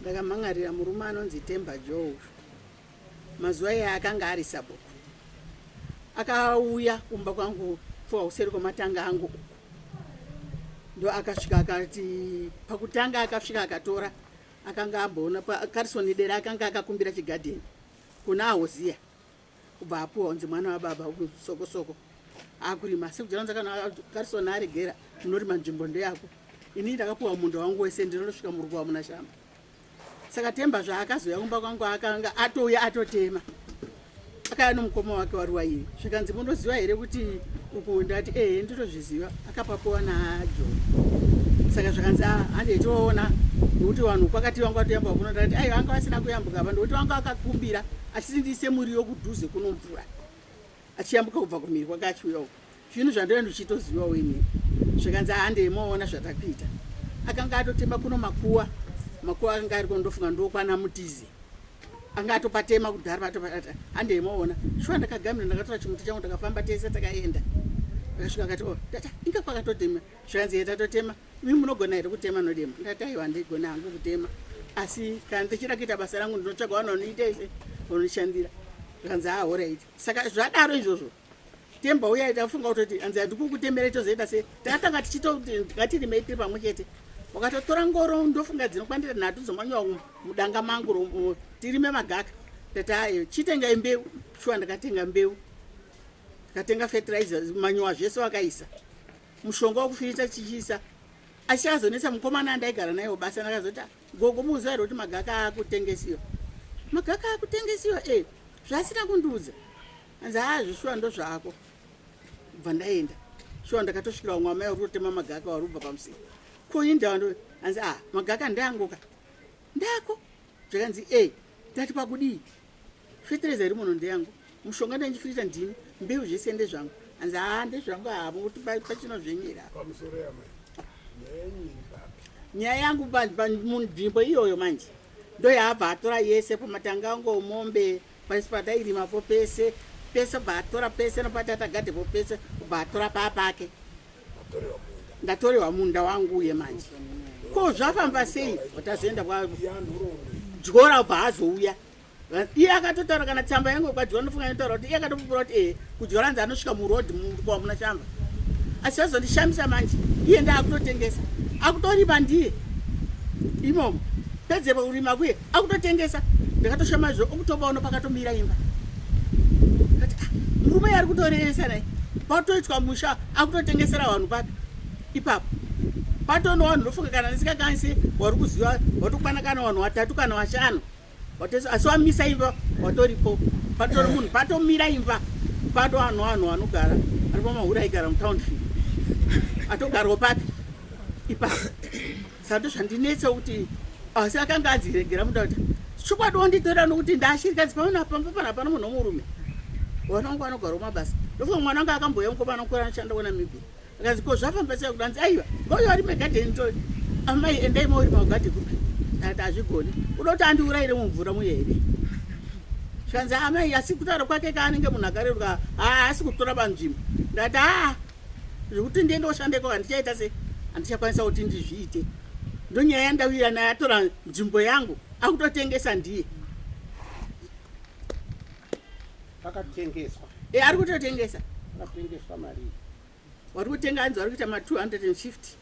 ndakamhan'arira murume anonzi temba jo uyu mazuva iye akanga ari sabhuku akauya kumba kwangu pfuwa useri kwematanga angu uku ndo akasvika akati pakutanga akasvika akatora akanga amboona pakarison dera akanga akakumbira chigadheni kuna ahoziya kubva apuwa unzi mwana wababa sokosoko akurima asi kujaranza kana karison aregera munorima nzvimbo ndeyako ini ndakapuwa munda wangu wese ndinonosvika murugo wamuna shamba saka temba zvaakazouya kumba kwangu akanga atouya atotema akaya nomukoma wake waruwaivi zvikanzi munoziva here kuti uku ndati ehe ndinozviziva akapakowa najoni saka zvikanzi ah, handei toona nokuti vanhu kwakati vanga vatoyambuka kuno ndati aiwa anga vasina kuyambuka apa ndokuti vanga vakakumbira achiti ndiise muriwo kudhuze kunomvura achiyambuka kubva kumhiri kwake achiuya uku zvinhu zvandaiva ndichitozivawo ini zvikanzi handei moona zvatakuita akanga atotema kuno makuwa makuwa akanga ariko ndofunga ndokwana mutizi anga atopatema kudhara patopata handei moona shuwa ndakagamira ndakatora chimuti changu takafamba tese takaenda akasvika akati o oh, tata inga kwakatotema zvikanzi ye tatotema imi munogona here kutema nodema ndati aiwa ndigona hangu kutema asi kana ndichida kuita basa rangu ndinotsvaga vanonoita ise vanondishandira zvikanzi ahoraiti saka zvadaro izvozvo temba uya tafunga kutoti hanzi handikukutemera itozoita se tatanga tichitotingatirime tiri pamwe chete wakatotora ngoro ndofunga dzinokwandira nhatu dzomanyowa mudanga mangu tirime magaka tatayo chitengai mbeu shuwa ndakatenga mbeu ndikatenga fertilizer manyowa zvese wakaisa mushonga wokufirita chichiisa asi azonetsa mukomana andaigara naye wobasa ndakazoti ah, gogo muuziva here kuti magaka akutengesiwa magaka akutengesiwa e eh, zvaasina kundiudza hanzi haa zvishuwa ndozvako bva ndaenda shuwa ndakatosvikira vamwe amai varikutotema magaka wari kubva pamusika koinda ndo hanzi a ah, magaka ndeangoka ndako zvakanzi e ndati pakudii fetereza iri muno ndeyangu mushonga ndandichifirita ndini mbeu zvese ndezvangu hanzi haa ah, ndezvangu havo kuti pachino zvenyera nyaya yangu munzvimbo iyoyo manje ndoyaabva atora yese pamatanga angu omombe Pasi patairima po pese pese ubva atora pese nopatata gade po pese ubva atora paa pake ndatorewa munda wangu uye manje ko zvafamba sei watazoenda kwa dyora ubva azouya iye akatotaura kana tsamba yangu kwadyora ndofunga inotaura kuti iye akatopupura kuti ee kudyora nzi anosvika muroad mukwa muna shamba asi vazondishamisa manje iye ndaakutotengesa akutoripa ndiye imomo pedzepo kurima kuye akutotengesa ndakatoshama zvo okutobaona pakatomira imba kati ah, murume yari kutorevesa nai patoitwa musha akutotengesera vanhu papi ipapo patono vanhu ndofunga kana ndisingakanisi wari kuziva watokwana kana vanhu vatatu kana vashanu asi wamisa imba watoripo patori munhu patomira imba pato vanhu vanhu vanogara ari pamahuri aigara mutownship atogarwa papi ipapo Sando zvandinetsa kuti asi akanga adziregera muda kuti chokwadi wonditora nokuti ndashirikadzi pamana pamba pana pana munhu womurume wana wangu anogara kumabasa ndofunga mwana wanga akamboya mukomana mukuru anoshanda kunamibia akanzi ko zvafamba sei kudanzi aiwa koyo ari megadheni to amai endai mauri magadhe kupi ndati hazvigoni uda kuti andiurayire mumvura muye here zvikanzi amai asi kutaura kwake kaanenge munhu akareruka haasi kutora panzvimbo ndati haa zvekuti ndiye ndoshandeko handichaita se handichakwanisa kuti ndizviite ndonyaya yandauya naye atora nzvimbo yangu akutotengesa ndiye akatengeswa e ari kutotengesa akatengeswa mari wari kutenga anzi wari kuita ma 250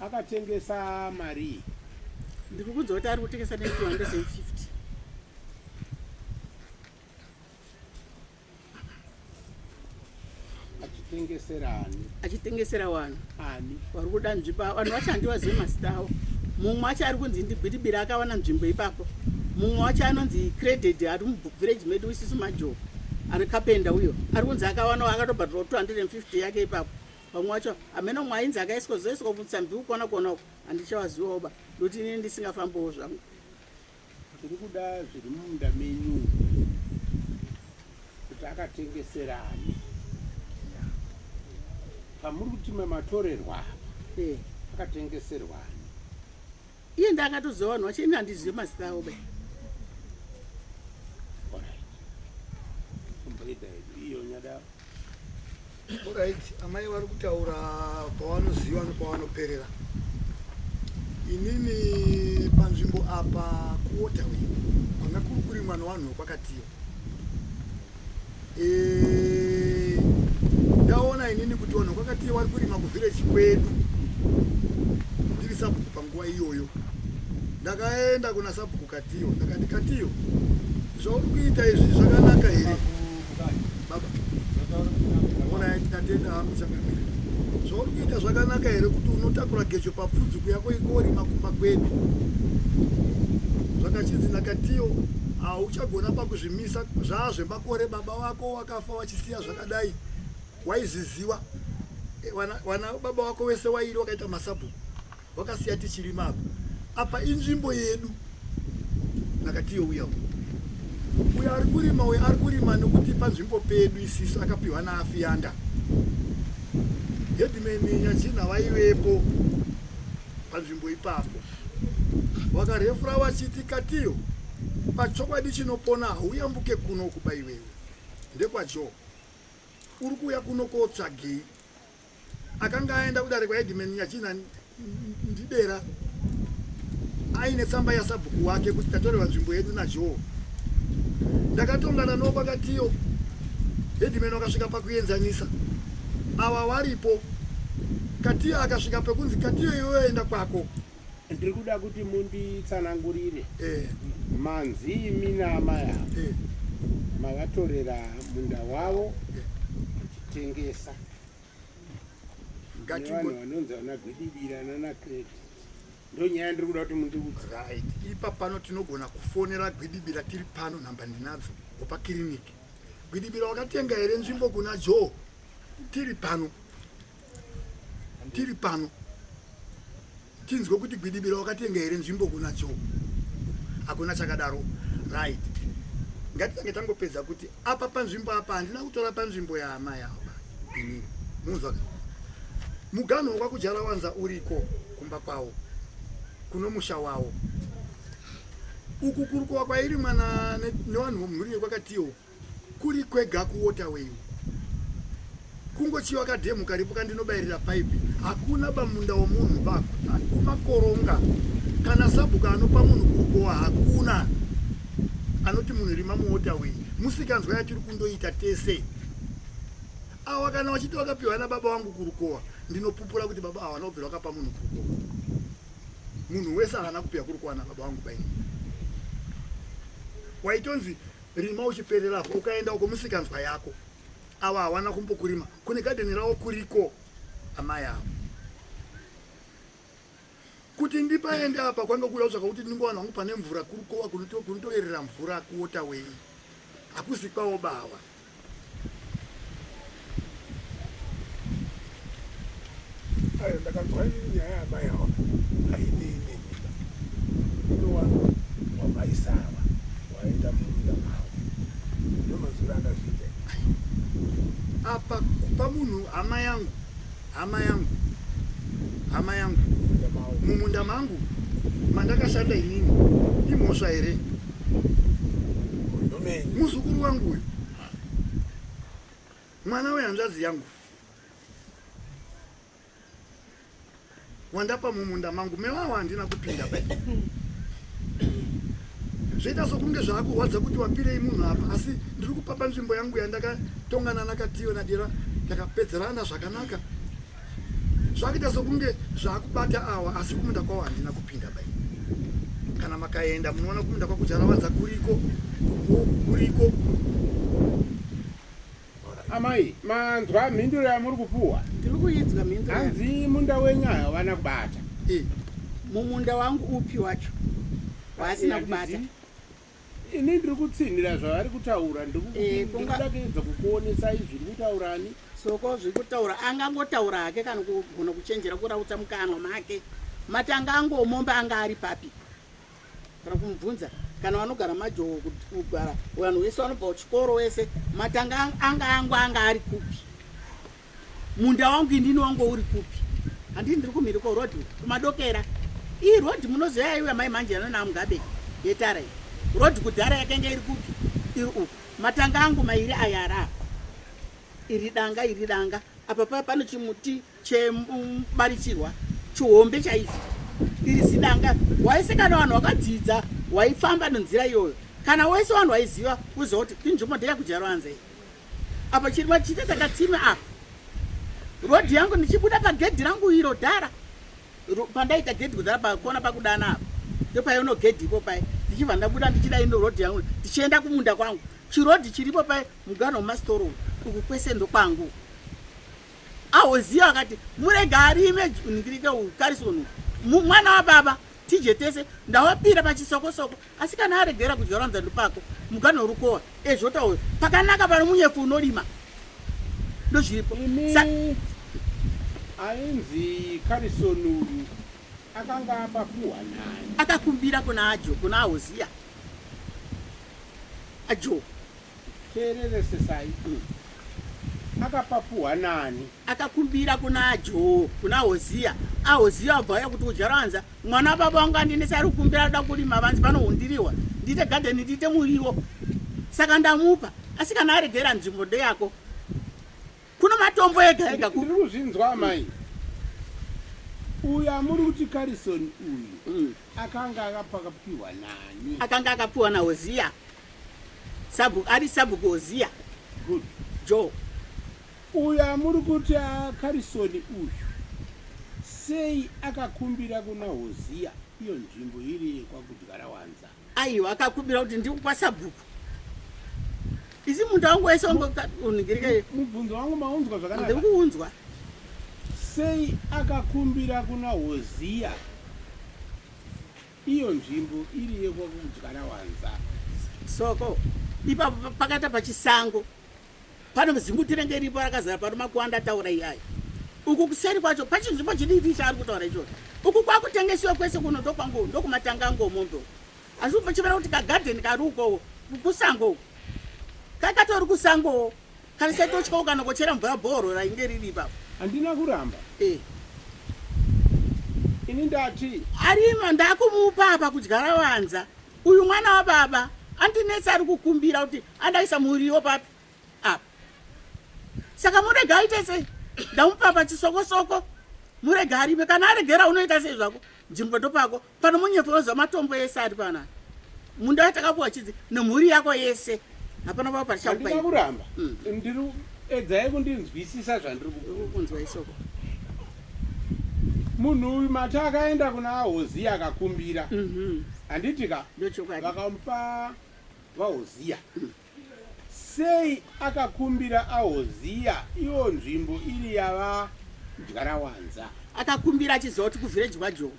Akatengesa marii? Ndiri kunzwa kuti ari kutengesa ne 250. Achitengesera ani? Achitengesera wani? Ani? Wari kuda nzvimbo ava. Vanhu vacho handiwazive mazita avo. Mumwe wacho ari kunzi ndibiribira akawana nzvimbo ipapo. Mumwe wacho anonzi credit ari muvillage medu isisu majoho. Ari kapenda uyo. Ari kunzi akawanawo akatobhadhirwa 250 yake ipapo. vamwe vacho hameno mumwe ainzi akaiswa zoiswa kubvisa mbi kukona kona uku handichawaziwawo ba ndokuti inini ndisingafambiwo zvangu tiri kuda zviri mumunda menyu kuti akatengeserani pamuri kuti mamatorerwa apa eh. akatengeserwani iye ndiye akatoziva vanhu vacho ini handizive mazita avo be orit amai vari kutaura pavanoziva nepavanoperera inini panzvimbo apa kuotawe kwanga kuri kurimwa nevanhu vekwakatiyo Eh, ndaona inini kuti vanhu vakati vari kurima kuvhireji kwedu ndiri sabhuku panguva iyoyo ndakaenda kuna sabhuku katiyo ndakati katiyo zvauri kuita izvi zvakanaka here baba onai tatenda hangu chakamira zvauri kuita zvakanaka here kuti unotakura gejo papfudzuku yako ikorima kumba kwedu zvakachinzi ndakatiyo hauchagona pakuzvi misa zvaa zvemakore baba wako wakafa wachisiya zvakadai waizviziwa eh, wana baba wako wese wairi wakaita masabhuku wakasiya tichirima apa apa inzvimbo yedu nakatiyo uya uyu uyo ari kurima uyo ari kurima nokuti panzvimbo pedu isisu akapiwa naafiyanda hedimeni nyachina vaivepo panzvimbo ipapo wakarefura wachiti katiyo pachokwadi chinopona hauyambuke kuno kuba iwewe ndekwajoe uri kuuya kuno kootsvagei akanga aenda kudare kwaedman nyachina ndidera aine tsamba yasabhuku wake kuti tatorerwa nzvimbo yedu najoe ndakatongana nokwakatiyo edman wakasvika pakuenzanisa ava varipo katiya akasvika pekunzi katiya iwe enda kwako ndiri kuda kuti munditsanangurire eh. manzi imi naamai avo eh. mavatorera munda wavo eh. muchitengesa vanhu vanonzi vana gwidibira nana kreti ndonyaya ndiri kuda kuti mundiudze right ipa pano tinogona kufonera gwidibira tiri pano nhamba ndinadzo opa kiriniki Gwidibira wakatenga here nzvimbo kuna Joe? Tiri pano. Tiri pano. Tinzwe kuti Gwidibira wakatenga here nzvimbo kuna Joe? Hakuna chakadaro. Right. Ngatitange tangopedza kuti apa panzvimbo apa handina kutora panzvimbo yahama yawo. Ini munzwa. Muganho wakakujara wanza uriko kumba kwawo. Kunomusha wawo. uku kurukuva kwairi mwana nevanhu vomhuri yekwakatiyo kuri kwega kuwaterway kungochiva kadhemu karipo kandinobayirira paipi hakuna bamunda womunhu bakumakoronga kana sabhuka anopa munhu kurukuva hakuna anoti munhu irima muwaterway musikanzwa yatiri kundoita tese awa kana vachiti vakapiwa nababa vangu kurukowa ndinopupura kuti baba awa vanobvira vakapa munhu kurukowa munhu wese haana kupiwa kuri kuwana baba vangu bai waitonzi rima uchipererapo ukaenda uko musikanzwa yako ava hawana kumbokurima kune gadheni ravo kuriko amai avo kuti ndipaende apa kwanga kuda kutsvaka kuti ndingowana hangu pane mvura kurikowa kunotoerera mvura kuota wei hakuzi kwawo bawa ndakanzwa nyaya yamai awa hainini ndowano wamaisava waenda mumunda mavo ndomazura akazviita apa kupa munhu hama yangu hama yangu hama yangu mumunda mangu mandakashanda inini imhosva here muzukuru wangu uyu mwana wehanzvadzi yangu wandapa mumunda mangu mewawa handina kupinda ba zvoita sokunge zvaakurwadza kuti wapirei munhu apa asi ndiri kupapa nzvimbo yangu yandakatongana nakatiyo nadira ndakapedzerana zvakanaka zvakuita sokunge zvaakubata awa asi kumunda kwawo handina kupinda bai kana makaenda munoona kumunda kwakujaravadza kuriko kuriko Amai, manzwa mhinduro yamuri kupuwa? Ndiri kuidzwa mhinduro. Hanzi munda wenyu havana kubata. Eh, mumunda wangu upi wacho waasina kubata? Ini ndiri kutsinhira zvavari kutaura, ndiri kuda kuedza kukuonesai zviri kutaura ani. Soko zviri kutaura angangotaura hake kana kugona kuchenjera kurautsa mukanwa make. Matanga angomomba anga ari papi? kana kumubvunza kana vanogara majowo kugara vanhu vese vanobva kuchikoro wese matanga anga angu anga ari kupi munda wangu indini wangu uri kupi handii ndiri kumhiri kworodi kumadokera iyi rodi munoziva yaiuya mai manje yanona amugabe yetara iyi rodi kudhara yakanga iri kupi iri uku matanga angu mairi ayara iri danga iri danga apa paa pane chimuti chemubarichirwa chihombe chaizvo iri zidanga waise kana vanhu vakadzidza waifamba nenzira iyoyo kana wese vanhu vaiziva uziva kuti inzvimbo ndeya kujaruanza iyi apa chirima chite takatsime apa rodhi yangu ndichibuda pagedhi rangu iro dhara pandaita gedhi kudhara pakona pakudana apa ndopaiono gedhi ipo paye ndichibva ndabuda ndichida ino rodhi yangu ndichienda kumunda kwangu chirodhi chiripo paye mugano wemasitoro uku kwese ndokwangu Ahozia akati murega arime uningirike ukarisoni mwana wababa tije tese ndawapira pachisokosoko asi kana aregera kudya rwanzandu pako mugano urukowa ezvota uyo pakanaka pano munyefu unorima ndozviripo ainzi karisoni uyu akanga apapuhwa nani akakumbira kuna ajo kuna ahozia ajo Teereresesai, umm akapapuhwa nani? Akakumbira kuna Joo, kuna Hoziya, aHoziya wabva waya kuti uJaranza, mwana wababa wangu andinese ari kukumbira ada kurima vanzi pano hundirihwa, ndiite gadheni ndiite muriwo. Saka ndamupa, asi kana aregera nzvimbo ndeyako. Kuno matombo ega ega ku. Ndiri kuzvinzwa amai. Uyu amuri kuti Carison uyu mm. akanga akapiwa nani? Akanga akapiwa naHoziya. Sabhuku ari sabhuku Oziya. Good. Joe. Uyu amuri kuti akarisoni uyu sei akakumbira kuna Oziya iyo nzvimbo iri yekwakudyara wanza? Aiwa akakumbira kuti ndiri kwasabhuku. Isi munda wangu wese unigirika. Mubvunzo wangu maunzwa zvakanaka. Ndiri kuunzwa. Sei akakumbira kuna Oziya? Iyo nzvimbo iri yekwakudyara wanza. Soko ipapo pakaita pachisango pano zimbuti renge iripo rakazara pano makuanda ataura iyayo uku kuseri kwacho pachinzvimbo chidiki chaari kutaura ichocho uku kwakutengesiwa kwese kuno ndokwangu ndokumatanga ngomombe asi upochivera kuti kagadheni kari ukowo kusango kakatori kusangowo Kana saitotyawo kana kochera mvura bhoro rainge riri ipapo. Handina kuramba. Eh. Ini ndati. Arima ndakumupa apa kudyara wanza. Uyu mwana wababa andinetsa ari kukumbira kuti andaisa muriwo papi apa. Saka murega aite sei? Ndamupa pachisoko soko. Murega arime kana aregera unoita sei zvako? Jimboto pako Pano munyepo unozwa matombo ese ari pana munda watakapuwa chidzi nemhuri yako yese hapana vavo parichakubaia kuramba mm. ndiri edzai kundinzwisisa zvandiri kukunzwa isoko munhu uyu mati akaenda kuna hoziya akakumbira mhm. handiti ka vakamupa vahoziya mm. sei akakumbira ahoziya iwo nzvimbo iri yava ndyarawanza akakumbira achiziva kuti kuvhireji kwajoa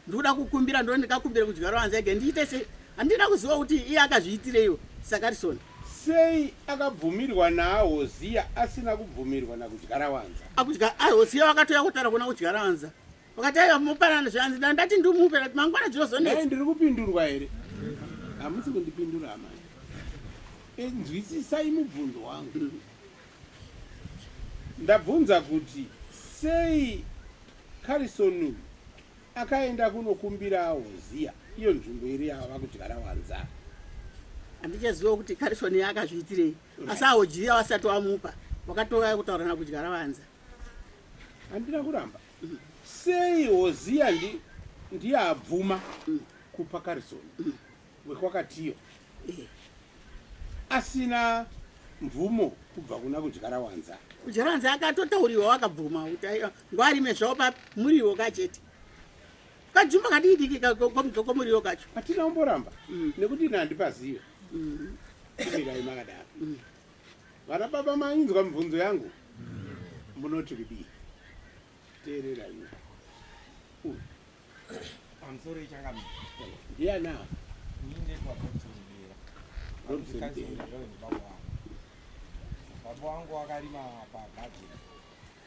ndikuda kukumbira ndo ndikakumbira kudyara wanzi ege ndiite sei handina kuziva kuti iye akazviitireiwo sakarison sei akabvumirwa naahoziya asina kubvumirwa nakudyara wanza akudya ahoziya wakatouya kutaura kuna kudyara wanza wakati aiva mupanana zvanzi da ndati ndimupe ati mangwana dzinozonei ndiri kupindurwa here hamusi kundipindura amai eh, nzwisisai mubvunzo wangu mm -hmm. Ndabvunza kuti sei Carison uyu akaenda kunokumbirawo ziya iyo nzvimbo iri yava kuti varawanza. Handichaziva kuti Carison akazviitirei asi awo jiya wasati wamupa wakatouya kutaurana kudya rawanza. Handina kuramba. Mm. Sei Hosiya ndiye abvuma mm. kupa Carison? Mm. wekwakatiyo asina mvumo kubva kuna kudyara wanza kudyara wanza akatotauriwa wakabvuma kuti aiwa ngwarime zvavo pa muriwo kachete kajumba kadidiki komuriwo kacho hatina kumboramba mm. nekuti ina handipazive mm. kumirai makadaro mm. vana baba mainzwa mibvunzo yangu munoti kudii teereraiwo pamusoro ichangami ndiyana baba wangu wakarima pagadheni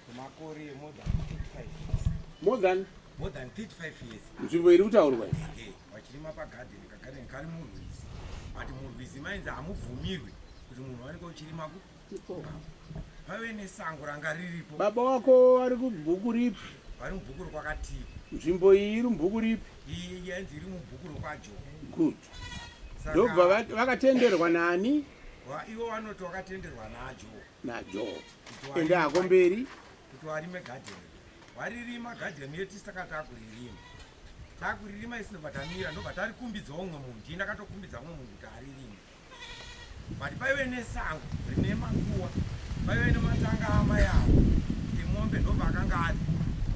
kwemakore more than 35 years more than more than 35 years nzvimbo iri kutaurwa vachirima pagadheni kagadheni kari murwizi but murwizi mainzi hamubvumirwi kuti munhu wanenge uchirima kupi vave nesango ranga riripo baba wako vari kubhuku ripi vari mubhuku rokwakatii nzvimbo iyi iri mubhuku ripi iyi yanzi iri mubhuku rokwajo good ndobva vakatenderwa nani ivo vanoti wakatenderwa najo najo ende hako mberi kuti warime gadheni waririma gadheni yedu tisi takati akuririma takuririma isinobva tamira ndobva tarikumbidza umwe munhu ndii ndakatokumbidza umwe munhu kuti aririme but paive nesango rine makuwa paive nematanga amai avo emombe ndo paakanga ari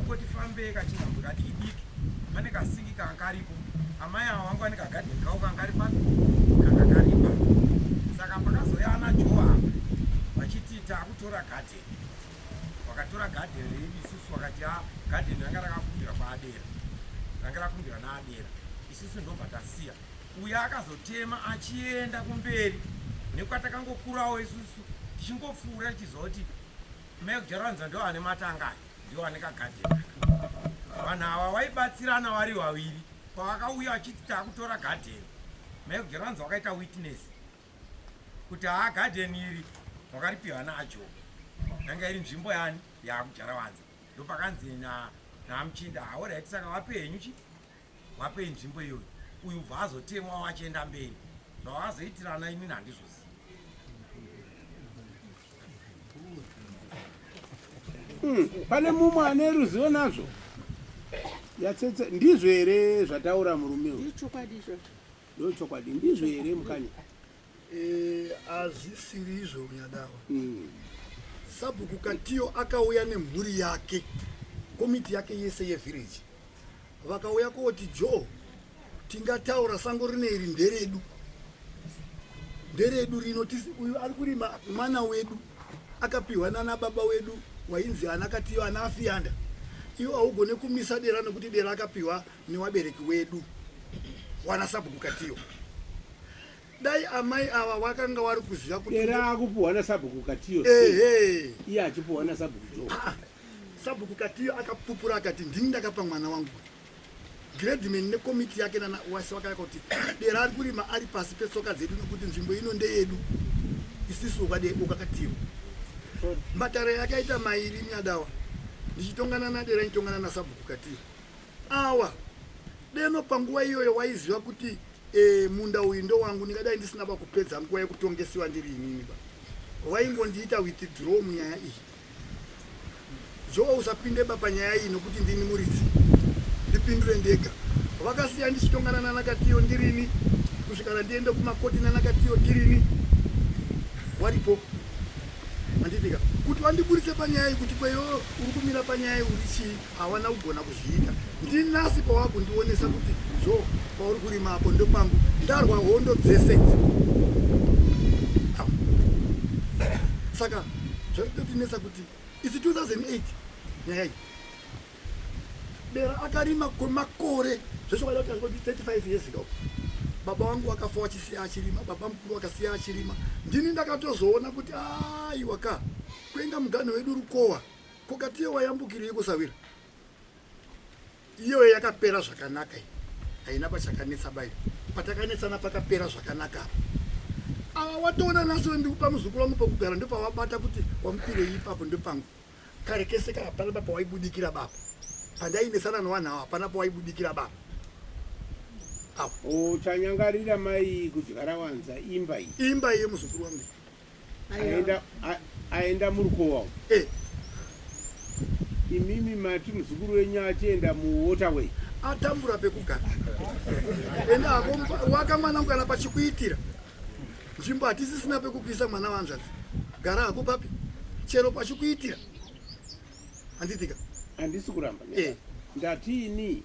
ukoti fambei kachinhambo kadiki diki pane kasingi kanga karipo amai avo vanga vane kagadheni kavo kanga kari papi kanga karipa saka pakazouya ana joa vachiti takutora gadheni vakatora gadheni redu isusu vakati a ah, gadheni ranga rakakumbira kwaadera ranga rakumbira naadera isusu ndobva tasiya uye akazotema achienda kumberi nekwatakangokurawo isusu tichingopfuura tichiziva kuti mai kujaranza ndiwo ane matanga aya ndiwo ane kagadheni vanhu ava vaibatsirana vari vaviri pavakauya vachiti takutora gadheni mai kujaranza wakaita witness kuti haa gadheni iri wakaripiwa najob yanga iri nzvimbo yani yakujarawanza ndopakanzi namuchinda haoraiti saka vapenyu chii wapei nzvimbo iyoyo uyu ubva azotemwa wachienda mberi zvavazoitirana imini handizvoziva Hmm, pane mumwe ane ruzivo nazvo yatsetse ndizvo here zvataura murume uyu ndochokwadi ndizvo here mukanya Hazvisiri izvo unyadawa. Mm. Sabhuku Katiyo akauya nemhuri yake, komiti yake yese yevillage. Vakauya koti Joe, tingataura sango rine iri nderedu. Nderedu rino tisi uyu ari kurima mwana wedu akapiwa nana baba wedu wainzi ana Katiyo ana Afiyanda. Iwo haugone kumisa dera nekuti dera akapiwa newabereki wedu wana sabhuku katiyo dai amai ava wakanga wari kuziva kuti era akupuhwa nasabhuku katiyo ehe iye achipuhwa nasabhuku jo ah, ah. sabhuku katiyo akapupura akati ndini ndakapa mwana wangu gradman nekomiti yake nana wasi wakaya kuti dera ari kurima ari pasi petsoka dzedu nekuti nzvimbo ino ndeyedu isisu ukakatiyo matare yakaita mairi nyadawa ndichitongana nadera nditongana nasabhuku katiyo Awa deno panguva iyoyo waiziva kuti e, munda uyu ndowangu ndingadai ndisina pakupedza nguva yekutongesiwa ndiri inini ba waingondiita withdraw munyaya iyi jowa usapinde ba panyaya iyi nokuti ndini muridzi ndipindure ndega vakasiya ndichitongana nanakatiyo ndirini kusvikana ndiende kumakoti nanakatiyo ndirini waripo anditika kuti wandiburitse panyaya iyi kuti kweyo uri kumira panyaya iyi uri chii hawana kugona kuzviita ndinasi pawakundionesa kuti zvo pauri kurima apo ndokwangu ndarwa hondo dzese idzi saka zvaitotinetsa kuti isi 2008 nyaya iyi bera akarima kwemakore zvese waida kuti azoti 35 years ago baba wangu wakafa wachisiya achirima baba mukuru wakasiya achirima ndini ndakatozoona kuti aiwa ka kuenga muganho wedu rukowa Ko katiyo wayambukirei kusawira? Iyoyo yakapera zvakanaka iyi. Haina pachakanetsa bayo. Patakanetsana pakapera zvakanaka apa. Awa watoona naso ndikupa muzukuru wangu pokugara ndopawabata kuti wamupirei ipapo ndopangu. Kare kese kana pana baba waibudikira baba. Pandainesana newanhu awa hapana pawaibudikira baba. Awa. Uchanyangarira mai kudyara wanza imba iyi. Imba iye muzukuru wangu. aenda murukowa eh. imimi mati muzukuru wenyu achienda muwaterway atambura pekugara ende ako waka mwana mukana pachikuitira nzvimbo hatisisina pekukuisa mwana vanzvadzi gara hako papi chero pachikuitira handitika handisi kuramba eh. ndatiini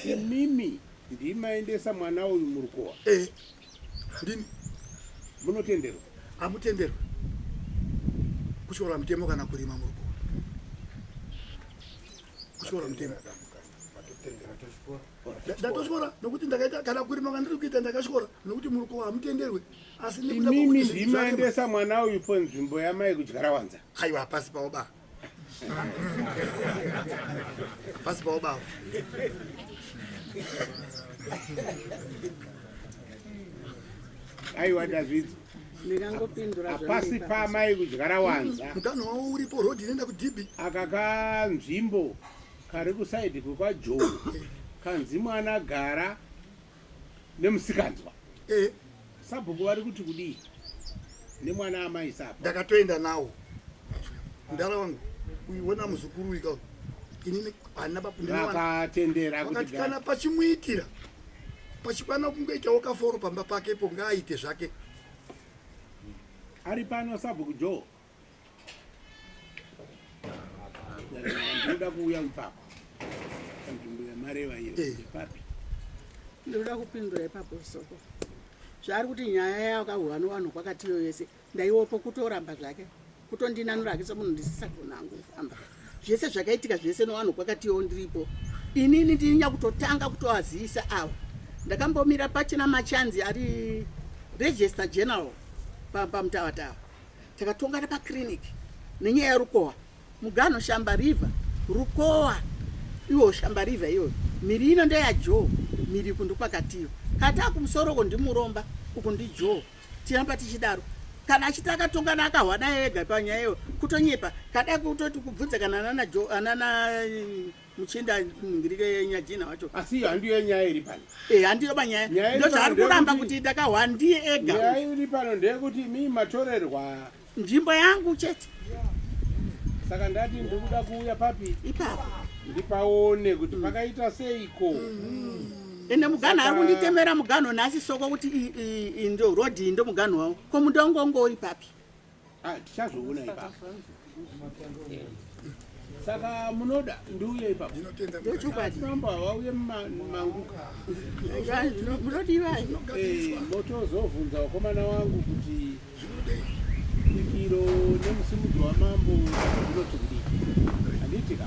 imimi ndimaendesa mwana uyu murukowa eh. handini munotenderwa amutenderwa kutyora mutemo kana kurima muri kuona kutyora mutemo ndatotyora nokuti ndakaita kana kurima kana ndiri kuita ndakatyora nokuti muri kuona hamutenderwe asi nekuda imimi kokuti zvinhu zvarema- ndimaendesa mwana uyu po nzvimbo yamai kudyara wanza aiwa hapasi pavo ba pasi pawo baba aiwa ndazvidzo apasi paamai kudyara wanza mutano wavo uripo road inoenda kudhibi aka kanzvimbo kari kusaidi kwekwajoe kanzi mwana gara nemusikanzwa eh. sabhuku vari kuti kudii nemwana amai sapa ndakatoenda nawo mdara wangu uiona muzukuru wika inini ana bapuakatendera kuti kana pachimuitira pachikwana kungoitawo kaforo pamba pake po ngaaite zvake ari pano sabhuku jo Ndoda kuuya ipapo panzvimbo yamareva iyo ipapi? Eh. Ndoda kupindura ipapo soko zvaari kuti nyaya yakahuwa novanhu kwakati iyo yese ndaiwopo kutoramba zvake kutondinanura hake somunhu ndisisagona hangu kufamba zvese zvakaitika zvese novanhu kwakati iyo ndiripo inini ndini nyakutotanga kutoazivisa ava ndakambomira pachina machanzi ari register general pamutavatava pa Takatongana pa clinic nenyaya ya Rukowa. Mugano shamba river, Rukowa iwo shamba river iyoyo. Miri ino ndeya Joe, miri kundu kwakatiyo. Kata kumusoro uko ndimuromba, uko ndi Joe. Tiramba tichidaro. Kana achiti akatongana akahwada ega panyaya iyo kutonyepa. Kada kutoti kubvunza kana nana Joe, nana muchienda ningirike nyajina wacho asi iyo handiyo nyaya iri pano eh handiyo banyaya ndochaari kuramba kuti ndakahwa ndiye ega nyaya iri pano ndeyekuti mi matorerwa nzvimbo yangu chete saka ndati ndikuda kuuya papi ipapo ndipaone kuti mm. pakaita seiko mm. ende muganho ari kunditemera muganho nhasi soko kuti ndio rodhi ndo muganho wavo ko mutongo ungouri papi Ah, tichazoona ipapo. Eh. Saka munoda ndiuye ipapo. Ndinotenda Mbuya. Ndochokwadi. Mambo havauye muma- mangu. Munodivai? Eh, motozovhunza wakomana wangu kuti Zvinodei. pikiro nemusimudzo wamambo zvinoti kudii. Handiti ka?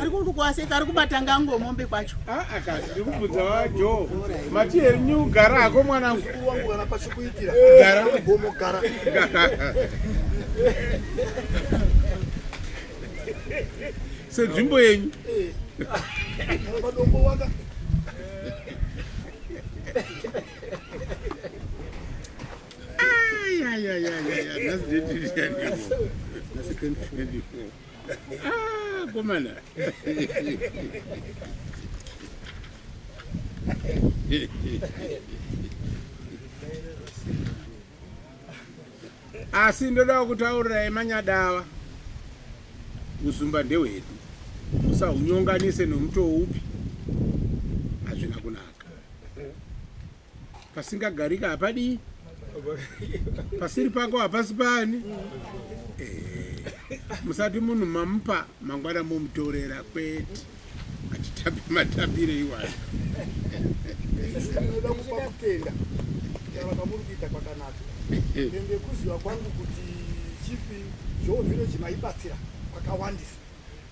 ari kukukwaseka ari kubata ngango mombe kwacho ah, ah, ndiri kubvunza vajo mati henyu gara hako mwanangu sedzvimbo yenyu Yeah, yeah, yeah, yeah, yeah. That's the Ah, komana. asi ndodawo kutaurira emanyadava uzumba ndehwedu musahunyonganise nomutowo upi pasingagarika hapadii pasiri pako hapasi pani eh, musati munhu mamupa mangwana momutorera kwete atitambe matambire iwayo inoda kupa kutenda vakamuri kuita kwakanaka ende kuziva kwangu kuti chifi zvoovhireji maibatsira kwakawandisa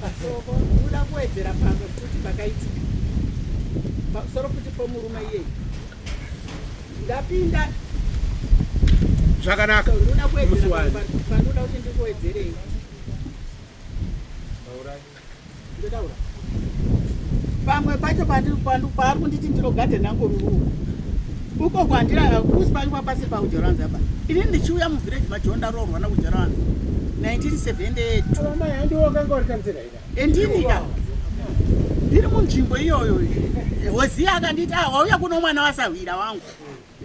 pasoko uda kuwedzera pamwe futi pakaitika pamusoro futi pomurume iyeyi ndapinda zvakanaka ndoda kuwedzera pandoda kuti ndikuwedzerei ndotaura pamwe pacho paari kunditi ndiro gadhen angu ruruwa uko kwandira kusi pange papasiri pakujoranzi apa ini ndichiuya muvillage majo ndaroorwa nakujoranzi 1978ndinida ndiri munzvimbo iyoyo hoziya akanditi ah, wauya kuno mwana wasahwira wangu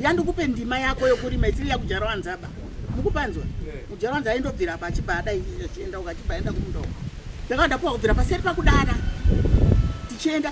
yandikupe ndima yako yokurima isiri yakujoranzi apa mukupanzwa kujoranzi aindobvira apa achibva adai achienda uko achibva aenda kumundoko ndakanda kuwa kubvira paseri pakudana tichienda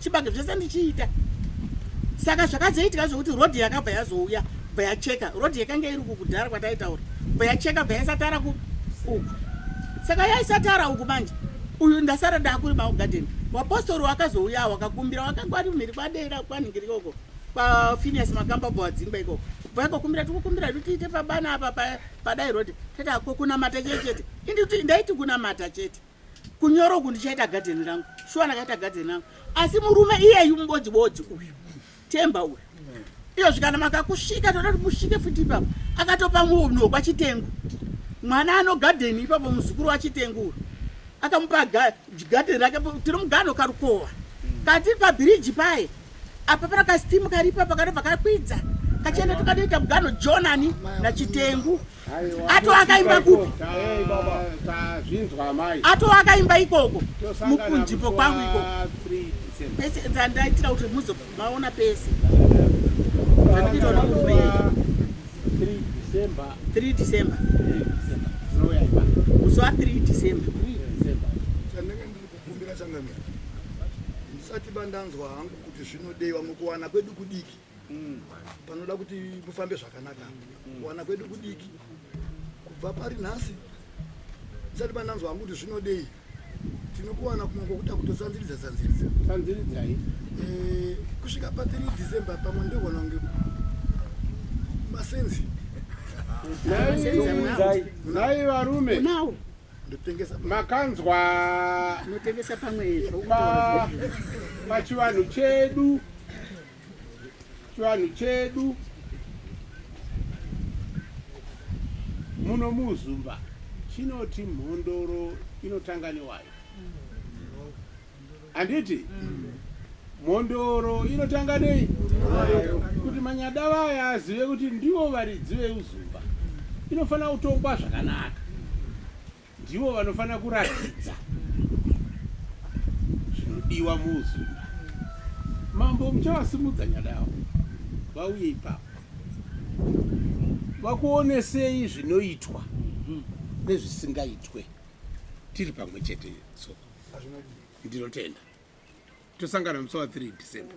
chibage zvese ndichiita saka zvakazoitika zvokuti rodhi yakabva yazouya bva yacheka rodhi yakanga iri uku kudhara kwataitaura bva yacheka bva yaisatara ku uku saka yaisatara uku manje uyu ndasara ndakuri maugadeni wapostori wakazouya wakakumbira wakanga ari mhiri kwadera kwanhingiri ikoko kwafinias makamba bva wadzingwa ikoko vaikokumbira tikukumbira kuti tiite pabana apa padai rodhi tati akokunamata chete chete indi kuti ndaiti kunamata chete pa, kunyoro uku ndichaita gadheni rangu shuwa ndakaita gadheni rangu asi murume iyeyu mubodzi bodzi uyu temba uyu iyo zvikana makakusvika toda kuti musvike futi ipapo akatopa munhu kwachitengu mwana anogadheni ipapo muzukuru wachitengu uyu akamupa gadheni rake tiri mugano karukova katiri pabhiriji paye apa pana kastimu karipa pakanobva kakwidza kachienda tukatoita mugano jonani nachitengu ato akaimba kupi ato akaimba ikoko mukunjipo kwangu iko pese dzandaitira kuti muzomaona pese zvandinoona 3 December. Uso wa 3 December. Chandenge ndiri kukumbira changamira. Ndisati bandanzwa hangu kuti zvinodeiwa mukuwana kwedu kudiki. mm. panoda kuti mufambe zvakanaka mm. kuwana kwedu kudiki kubva pari nhasi tisati pananzwa hangu kuti zvinodei tinokuwana kumwe kwokuda kutotsanziridza tsanziridza tsanziridzai eh, kusvika pa 3 december pamwe ndoona kunge masenzi nai varume makanzwa pachivanhu chedu Chivanhu chedu muno muZumba chinoti mhondoro inotanga newayo. Handiti? Mhondoro inotanga nei? Kuti manyada vaya azive kuti ndivo varidzi veuzumba. Inofanira kutongwa zvakanaka. ndivo vanofanira kuratidza zvinodiwa muuzunda mambo muchavasimudza nyada yavo vauye ipapo vakuonesei zvinoitwa nezvisingaitwe tiri pamwe chete so ndinotenda tosangana musi wa 3 december